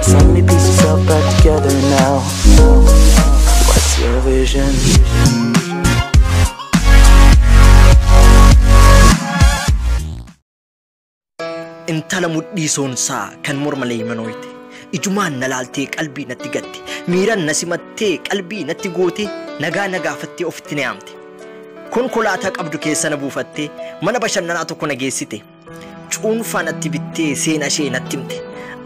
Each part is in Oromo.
So many pieces all back together now. What's your vision? intala mudhii soonsaa kan morma leeymanooyte ijumaan na laaltee qalbii natti gatte miiran na simattee qalbii natti goote nagaa na gaafattee ofitti na yaamte konkolaataa qabdu keessa na buufattee mana bashannanaa tokko na geessite Cuunfaa natti bittee seena ishee natti himte.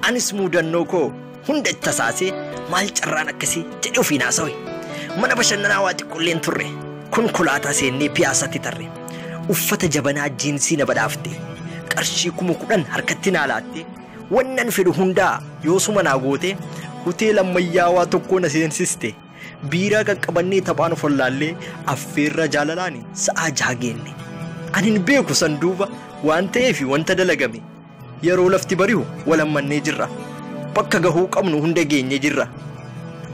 Anis muudannoo koo hunda itti tasaasee maal carraan akkasii jedhee ofiin haasawe. Mana bashannanaa waa xiqqoolleen turre. Konkolaataa seennee piyaasaatti tarre. Uffata jabanaa jiinsii na badhaafte. Qarshii kuma kudhan harkatti naa laatte. Wannan fedhu hundaa yoosuma naa goote hoteela ammayyaawaa tokkoo na seensiste. Biiraa qaqqabannee taphaan of wallaallee affeerraa jaalalaani sa'aa jaha geenne. An hin beeku san duuba waan ta'eefi wanta dalagame. Yeroo lafti barihu wal hammannee jirra. Bakka gahuu qabnu hunda geenye jirra.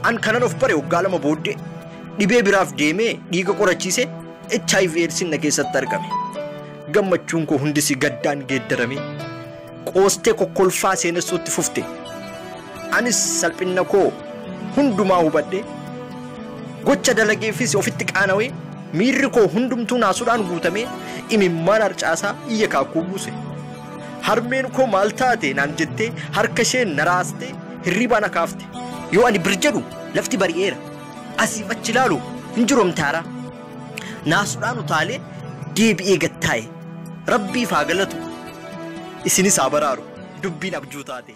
An kanan of bare waggaa lama booddee dhibee biraaf deemee dhiiga qorachiise HIV eedsiin na keessatti argame. Gammachuun koo hundisi gaddaan geeddarame. qoostee kokkolfaa seenessuutti fufte. Anis salphinna koo hundumaa hubadhe gocha dalageefis ofitti qaanawee miirri koo hundumtuu naasuudhaan guutamee imimmaan harcaasaa iyya kaakkuu buuse. Harmeen koo maal taate naan jettee harka isheen na raastee hirriibaa na kaafte. Yoo ani bir jedhu lafti bari'eera. Asiif achi ilaalu hin jiru amtaaraa. naasudhaan utaalee deebi'ee gad taa'e rabbiif haa galatu isinis haa baraaru dubbiin abjuu taate.